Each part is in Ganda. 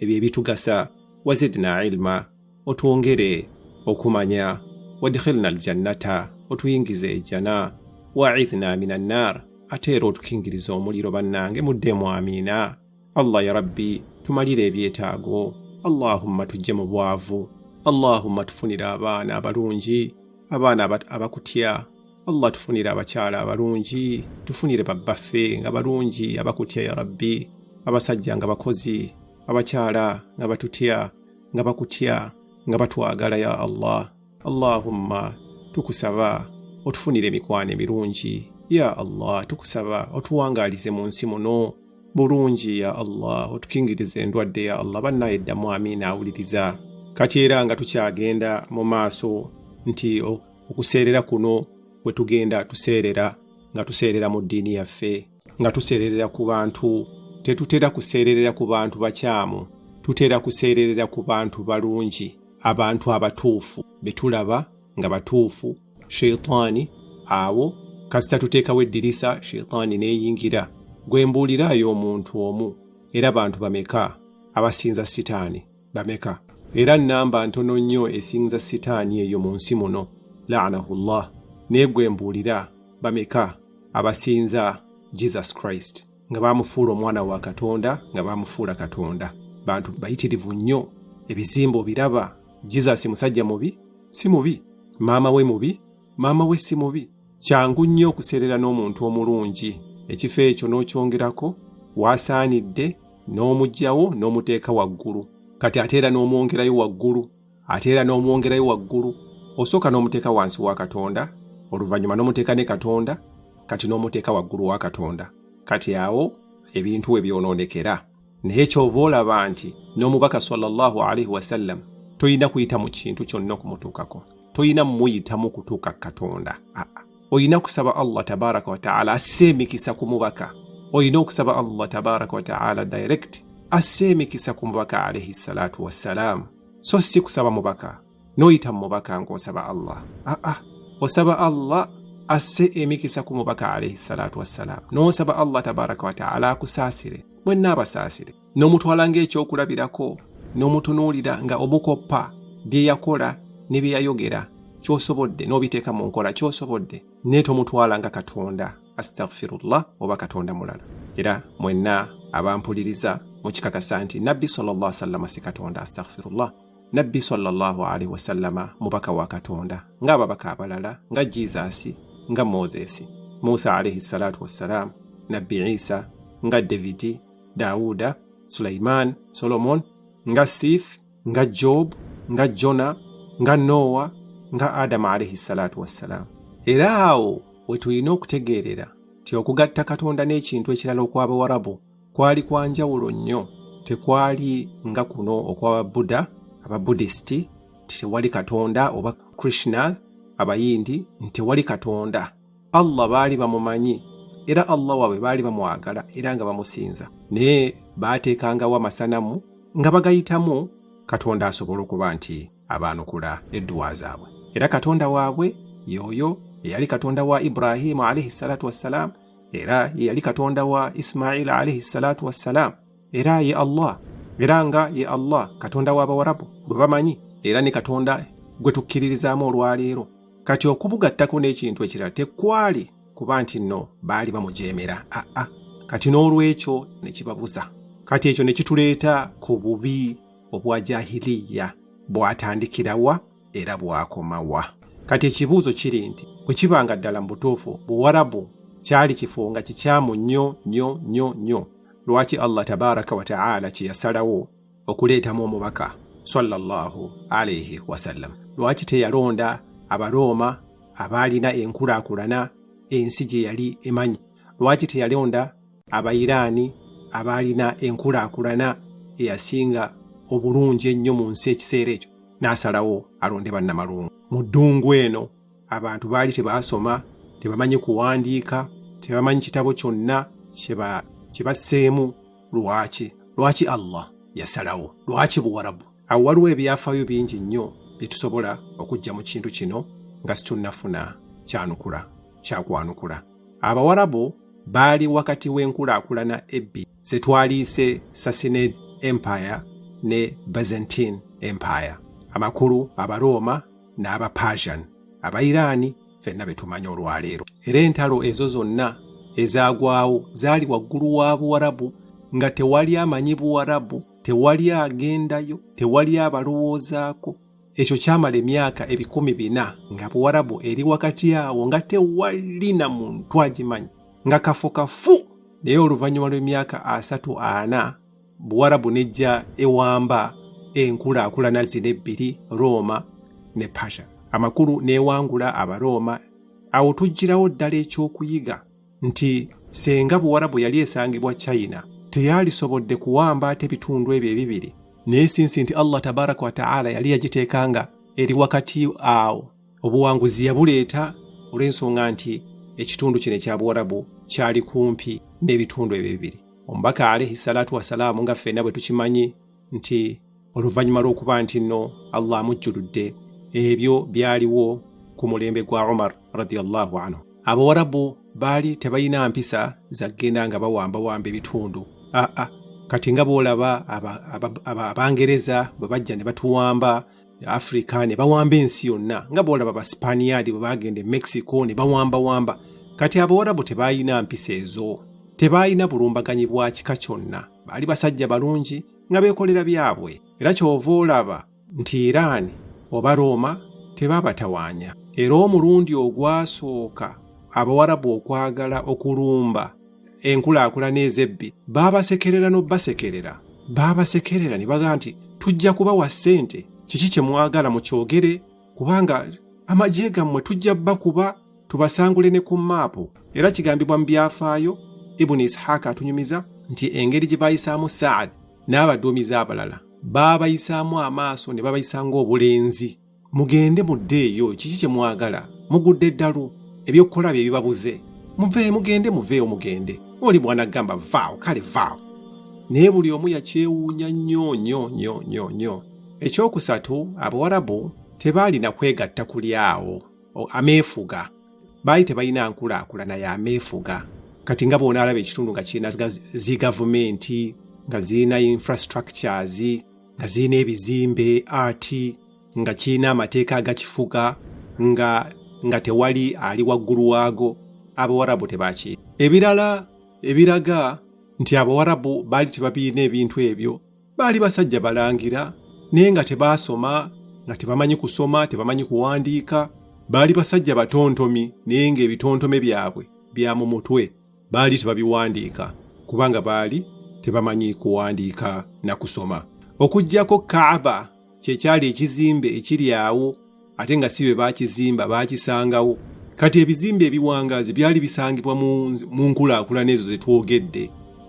ebyo ebitugasa wazidna ilma otwongere okumanya wadkhilna aljannata otuyingize ejjana waidhna min annar ate era otukingiriza omuliro bannange muddemu amiina allah ya rabbi tumalire ebyetaago allahumma tujje mu bwavu allahumma tufunire abaana abalungi abaana abakutya allah tufunire abakyala abalungi tufunire babbaffe nga balungi abakutya ya rabbi abasajja nga bakozi abakyala nga batutya nga bakutya nga batwagala ya allah allahumma tukusaba otufunire emikwano emirungi ya allah tukusaba otuwangaalize mu nsi muno bulungi ya allah otukingirize endwadde ya allah bannaye ddamu amiina awuliriza kati era nga tukyagenda mu maaso nti okuseerera kuno we tugenda tuseerera nga tuseerera mu ddiini yaffe nga tuseererera ku bantu tetutera kuseererera ku bantu bakyamu tutera kuseererera ku bantu balungi abantu abatuufu be tulaba nga batuufu sheitaani abo kasita tuteekawo eddirisa sheitaani n'eyingira gwe mbuuliraayo omuntu omu era bantu bameka abasinza sitaani bameka era nnamba ntono nnyo esinza sitaani eyo mu nsi muno laanahullah naye gwe mbuulira bameka abasinza jesus christ nga baamufuula omwana wa katonda nga baamufuula katonda bantu bayitirivu nnyo ebizimba obiraba jesus musajja mubi si mubi maama we mubi maama we si mubi Kyangu nnyo okuseerera n'omuntu omulungi, ekifo ekyo n'okyongerako waasaanidde n'omugyawo n'omuteeka waggulu kati ate era n'omwongerayo waggulu ate era n'omwongerayo waggulu osooka n'omuteeka wansi wa katonda oluvannyuma n'omuteeka ne katonda kati n'omuteeka waggulu wa katonda kati awo ebintu we byonoonekera naye kyova olaba nti n'omubaka sallallahu alaihi wasallam tolina kuyita mu kintu kyonna okumutuukako tolina muyitamu kutuuka katonda aa olina kusaba allah tabaraka wataala asse emikisa ku mubaka olina okusaba allah tabaraka wataala direct asse emikisa ku mubaka alaihi salatu wassalaamu so si kusaba mubaka n'oyita mu mubaka ng'osaba Allah aa ah, ah. osaba Allah asse emikisa ku mubaka alaihi salatu wassalaamu n'osaba Allah tabaraka wataala akusaasire mwenna abasaasire n'omutwala ng'ekyokulabirako n'omutunuulira nga omukoppa bye yakola ne bye yayogera kyosobodde n'obiteeka mu nkola kyosobodde naye tomutwala nga katonda astaghfirullah oba katonda mulala era mwenna abampuliriza mukikakasa nti nabbi sallallahu alaihi wasallam si katonda astaghfirullah nabbi sallallahu alaihi wasallama mubaka wa katonda ng'ababaka abalala nga jizaasi nga moses musa alaihi salatu wassalam nabbi isa nga davidi dawuda sulaiman solomon nga sif nga job nga jona nga nowa nga adamu alaihi salatu wassalam era awo we tulina okutegeerera nti okugatta katonda n'ekintu ekirala okw'abawarabu kwali kwa njawulo nnyo tekwali nga kuno okwababuda ababudisiti nti tewali katonda oba krishna abayindi nti tewali katonda allah baali bamumanyi era allah waabwe baali bamwagala era nga bamusinza naye baateekangawo amasanamu nga bagayitamu katonda asobole okuba nti abaanukula edduwa zaabwe era katonda waabwe yooyo eyali katonda wa ibrahimu alaihi salatu wassalaamu era yeyali katonda wa isimaila alaihi salatu wassalaamu era ye allah era nga ye allah katonda w'abawarabu gwe bamanyi era ne katonda gwe tukkiririzaamu olwaleero kati okubugattako n'ekintu ekirala tekwali kuba nti nno baali bamujeemera aa kati n'olwekyo ne kibabuza kati ekyo ne kituleeta ku bubi obwa jahiliya bwatandikira wa era bwakoma wa kati ekibuuzo kiri nti bwe kiba nga ddala mu butuufu buwarabu kyali kifo nga kikyamu nnyo nnyo nnyo nnyo lwaki allah tabaraka wataala kyeyasalawo okuleetamu omubaka sallallahu alaihi wasallam lwaki teyalonda abarooma abaalina enkulaakulana ensi gye yali emanyi lwaki teyalonda Abayiraani abaalina enkulaakulana eyasinga obulungi ennyo mu nsi ekiseera ekyo n'asalawo alonde bannamalungu mu ddungu eno abantu baali tebaasoma tebamanyi kuwandiika tebamanyi kitabo kyonna kye basseemu lwaki lwaki allah yasalawo lwaki buwarabu awo waliwo ebyafaayo bingi nnyo bye tusobola okujja mu kintu kino nga situnnafuna kyanukula kyakwanukula Abawarabu baali wakati w'enkulaakulana ebbi ze twaliise Sassanid Empire ne Byzantine Empire, amakulu Abarooma n'Abapersian, Abairaani fenna be tumanyi olwaleero. Era entalo ezo zonna ezaagwawo zaali waggulu wa Buwarabu nga tewali amanyi Buwarabu, tewali agendayo, tewali abalowoozaako. ekyo kyamala emyaka ebikumi bina nga buwarabu eri wakati awo nga tewali na muntu agimanyi nga kafo kafu naye oluvannyuma lw'emyaka asatu ana buwarabu nejja ewamba enkulaakulana zino ebbiri rooma ne pasha amakulu n'ewangula abarooma awo tujjirawo ddala ekyokuyiga nti senga buwarabu yali esangibwa china teyalisobodde kuwamba ate ebitundu ebyo ebibiri naye sinsi nti allah tabaraka wataala yali yagiteeka nga eri wakati awo obuwanguzi yabuleeta olw'ensonga nti ekitundu kino ekya buwarabu kyali kumpi n'ebitundu ebyo bibiri omubaka alaihi salatu wasalaamu nga ffenna bwe tukimanyi nti oluvannyuma lw'okuba nti nno allah amujjuludde ebyo byaliwo ku mulembe gwa umar radiallahu anhu abawarabu baali tebalina mpisa zaggenda nga bawambawamba ebitundu aa kati nga boolaba abangereza bwe bajja ne batuwamba afrika ne bawamba ensi yonna nga boolaba abasipaniyaadi bwe bagenda e mexico ne bawambawamba kati abawarabu tebalina mpisa ezo tebalina bulumbaganyi bwa kika kyonna baali basajja balungi nga beekolera byabwe era ky'ova olaba nti iraani oba rooma tebaabatawaanya era omulundi ogwasooka abawarabu okwagala okulumba enkulaakulana ez'ebbi baabasekerera n'obbasekerera baabasekerera ne baga nti tujja kubawa ssente kiki kye mwagala mukyogere kubanga amagye gammwe tujja bakuba tubasangule ne ku maapu era kigambibwa mu byafaayo ibuni isihaka atunyumiza nti engeri gye baayisaamu saadi n'abaduumizi abalala baabayisaamu amaaso ne babayisa ng'obulenzi mugende muddeeyo kiki kye mwagala mugudde eddalu ebyokukola bye bibabuze muveeyo mugende muveeyo mugende oli mwana gamba vaawo kale vaawo naye buli omu yakyewuunya nnyo nnyo nnyo nnyo nnyo ekyokusatu abawarabu tebaalina kwegatta kuli awo ameefuga baali tebalina nkulaakulana ya meefuga kati nga bona alaba ekitundu nga kirina zi gavumenti nga zirina infrastructures nga zirina ebizimbe art nga kirina amateeka agakifuga nga nga tewali ali waggulu waago abawarabu tebaki ebirala ebiraga nti abawarabu baali tebabirina ebintu ebyo baali basajja balangira naye nga tebaasoma nga tebamanyi kusoma tebamanyi kuwandiika baali basajja batontomi naye ng'ebitontome byabwe bya mu mutwe baali tebabiwandiika kubanga baali tebamanyi kuwandiika na kusoma okuggyako kaaba kye kyali ekizimbe ekiri awo ate nga si bye baakizimba baakisangawo kati ebizimbe ebiwangaazi byali bisangibwa mu nkulaakulana ezo ze twogedde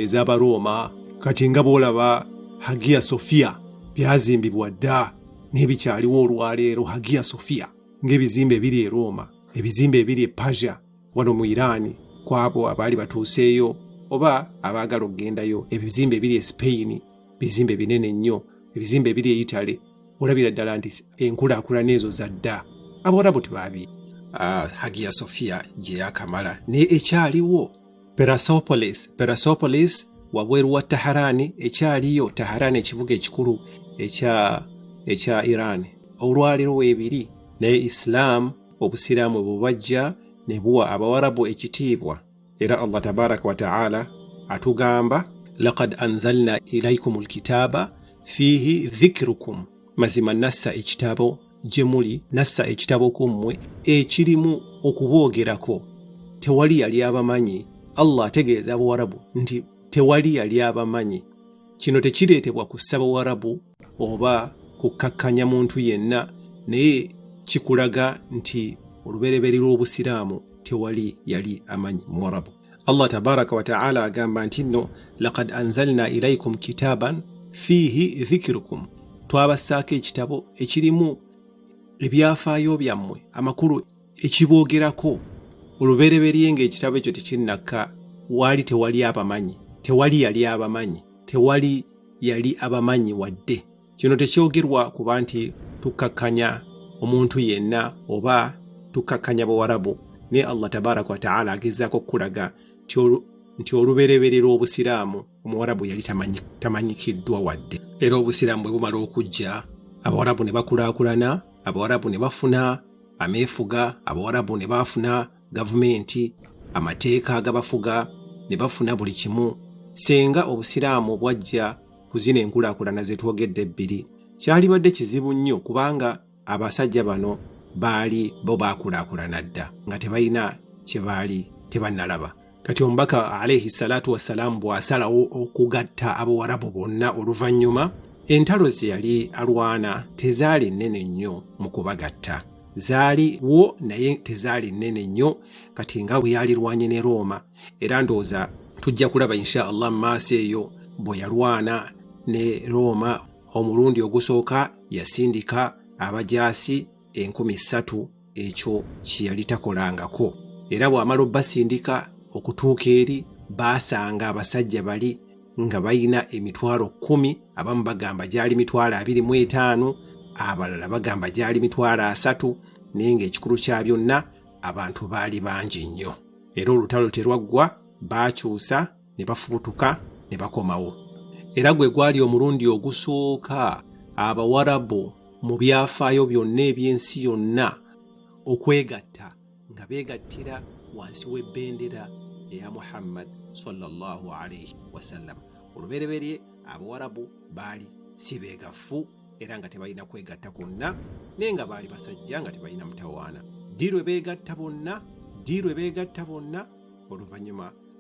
ez'abarooma kati nga bw'olaba hagia sofiya byazimbibwa dda n'ebikyaliwo olwaleero hagia sofiya ng'ebizimbe ebiri e rooma ebizimbe ebiri e pasia wano mu iraani kwabo abaali batuuseeyo oba abaagala okugendayo ebizimbe ebiri e sipeyini bizimbe binene nnyo ebizimbe ebiri eyitale olabira ddala nti enkulaakulana ezo za dda abawarabu tebaabi ah, hagia sofia gye yakamala naye ekyaliwo perasopolis perasopolis wabweru wa taharani ekyaliyo taharani ekibuga ekikulu ekya ekya iran olwaliro weebiri naye isilaamu obusiraamu bubajja ne buwa abawarabu ekitiibwa era allah tabaraka wataala atugamba lakad anzalna ilaikum lkitaaba fiihi dhikirukum mazima nassa ekitabo gye muli nassa ekitabo ku mmwe ekirimu okuboogerako tewali yali abamanyi allah ategeeza abawarabu nti tewali yali abamanyi kino tekireetebwa kussa bawarabu oba kukkakkanya muntu yenna naye kikulaga nti olubereberye lw'obusiraamu tewali yali amanyi muwarabu allah tabaraka wataala agamba nti nno lakad anzalna ilaikum kitaaban fiihi dhikirukum twabassaako ekitabo ekirimu ebyafaayo byammwe amakulu ekiboogerako olubereberye ng'ekitabo ekyo tekinnakka waali tewali abamanyi tewali yali abamanyi tewali yali abamanyi wadde kino tekyogerwa kuba nti tukkakkanya omuntu yenna oba tukkakkanya bawarabu naye allah tabaraka wataala agezaako okukulaga nti olubereberye lw'obusiraamu omuwarabu yali tamanyikiddwa wadde era obusiraamu bwe bumala okujja abawarabu ne bakulaakulana abawarabu ne bafuna ameefuga abawarabu ne baafuna gavumenti amateeka agabafuga ne bafuna buli kimu senga obusiraamu bwajja ku zino enkulaakulana ze twogedde ebbiri kyalibadde kizibu nnyo kubanga abasajja bano baali bo baakulaakulana dda nga tebalina kye baali tebannalaba kati omubaka alaihi salatu wassalaamu bw'asalawo okugatta abawarabu bonna oluvannyuma entalo ze yali alwana tezaali nnene nnyo mu kubagatta zaali wo naye tezaali nnene nnyo kati nga bwe yalirwanye ne rooma era ndowooza tujja kulaba insha allah mu maaso eyo bwe yalwana ne rooma omulundi ogusooka yasindika abajaasi enkumi ssatu ekyo kye yali takolangako era bw'amala obbasindika okutuuka eri baasanga abasajja bali nga balina emitwalo kkumi abamu bagamba gyali mitwalo abiri mu etaano abalala bagamba gyali mitwalo asatu naye ng'ekikulu kya byonna abantu baali bangi nnyo era olutalo terwaggwa baakyusa ne bafubutuka ne bakomawo era gwe gwali omulundi ogusooka abawarabu mu byafaayo byonna eby'ensi yonna okwegatta nga beegattira wansi w'ebbendera eya muhammad sallallahu alaihi wasallam olubereberye abawarabu baali si beegafu era nga tebalina kwegatta kwonna naye nga baali basajja nga tebalina mutawaana ddi lwe beegatta bonna ddi lwe beegatta bonna oluvannyuma